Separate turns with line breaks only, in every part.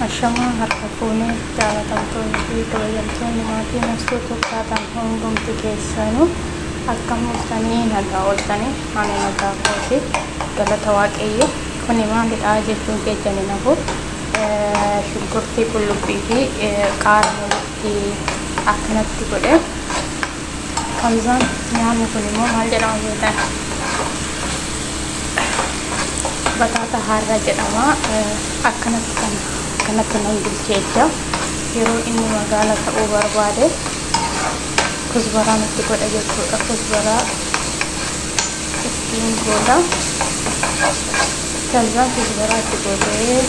Ashamaa harka fuunee jaalatamtoonni fi kabajamtoonni maatii nafsuu tokkaataan hundumti keessanuu akka mul'atanii nagaa ooltanii ani nagaa kooti galata waaqayyo kuni maalidha jechuun keessani nafu shunkurtii qullubbii fi qaara walitti akkanatti godhe Hamzaan nyaanni kun immoo maal jedhama beektan? Bataata harraa jedhama. Akkanatti kan akkanatti nan bilchee ija yeroo inni magaala ta'uu barbaade kusbaraa nutti godha jechuudha. Kusbaraa ittiin gooda. Hamzaan kusbaraa itti gootee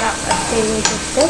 raaffattee yoo jirte.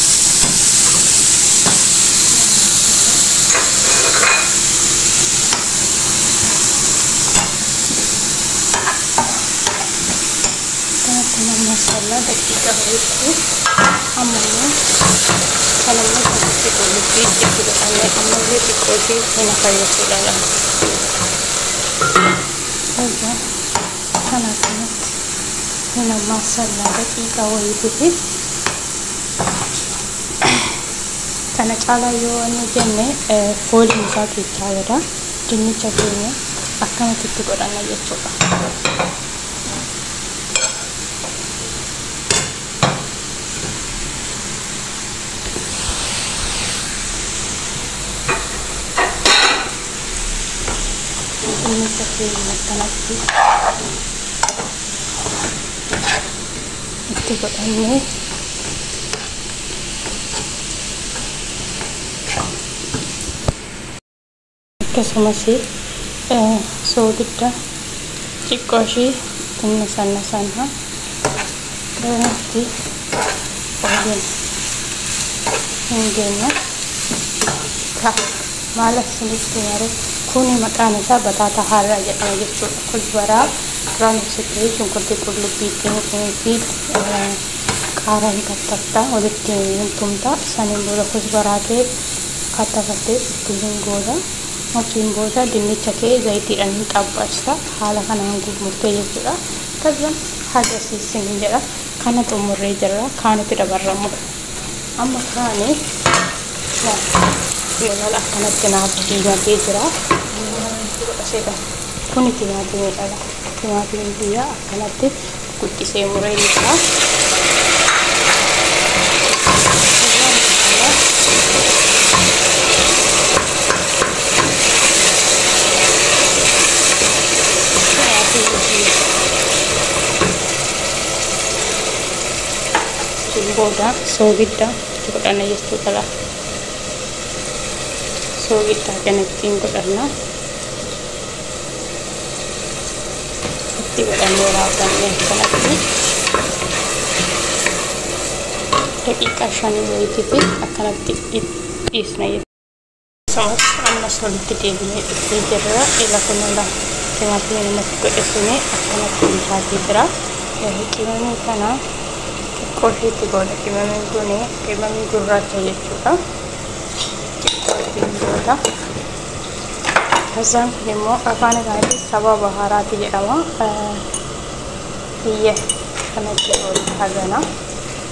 Akkuma masala daqiiqa ho'itti ammoo salamni kanatti qullubbii itti godhamee ammallee xiqqoo ishee hin fayyisuudha laata. Egaa kana kanatti hin ammaa sallaa daqiiqa wayiitiif kana caalaa yoo waan hojjenne fooliin isaa keessaa bada dinnicha keenya akkanatti itti godhanna jechuudha. Dinnicha keenya akkanatti itti godhannee akkasumas soogidda xiqqoo ishii xinna sanna sanna itti baay'een hin geenye ta'a. Maal akka isinitti himaree kuni maqaan isaa bataataa harraa jedhama jechuudha. Kuzbaraa duraan ibsite shunkurtii qullubbii fi qaaraa hin kattafta walitti hin tumta saniin booda kuzbaraa kee kattafattee itti hin gooda achiin booda dinnicha kee zayitiidhaan hin xabbaasta haala kanaan gurmurtee jechuudha. Kazzan haga siisin hin jedha kana xumurree jirra kaanitti dabarramudha. amma kaani timaala akkanatti naaf diimatee jira seetan kuni timaatimii dhala timaatimii biyyaa akkanatti guddisee muree jira Thank you. Achiin booda soogidda itti godhanna jechuudha laa. Soogidda kana ittiin godhanna. Itti godhannee raawwanne kanatti daqiiqaa shanii wayiitiif akkanatti dhiisna jechuudha. Saas ammas walitti deebinee dhufee jirra. Ila kunuula timaatimii namatti godhesine akkanatti bilchaatee jira. Qimamii kana xiqqoo isheetti goona. Qimamiin kun qimamii gurraacha jechuudha. Xiqqoo ittiin goota. Kazzaan kun immoo afaan isaatiin sabaa bahaaraati jedhama. Biyya kanatti goona hagana.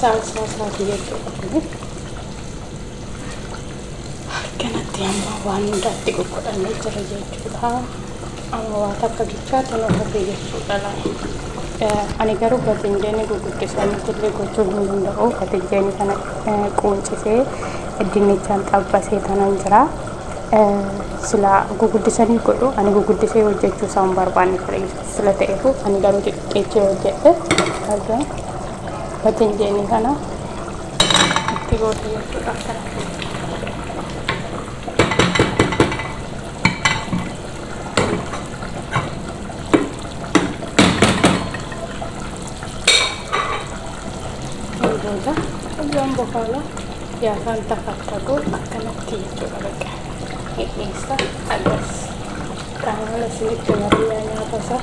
saalsaa isaatii jechuudha. Akkanatti amma waan hundaatti qoqqodamee jira jechuudha. Amma waa takka gichaatti nu hafee jechuudha laala. Ani garuu batinjeenii gurguddisanitti illee gochuu hin danda'u. Batinjeenii kana quuncisee dinnichaan xabbasee tanan jira. silaa guguddisanii godhu ani guguddisee hojjechuu isaa hin barbaanne ture Yesuus sila ta'eefu ani garuu xixiqqeechee hojjedhe argaa bateen jeenii kana itti goote jechuudha akkana booda hojjaan bokaala Yaa faantaa faantaa koo akkanatti jechuudha bakka hidhiinsa akkas qaamala isinitti marii yaa nyaata isaa.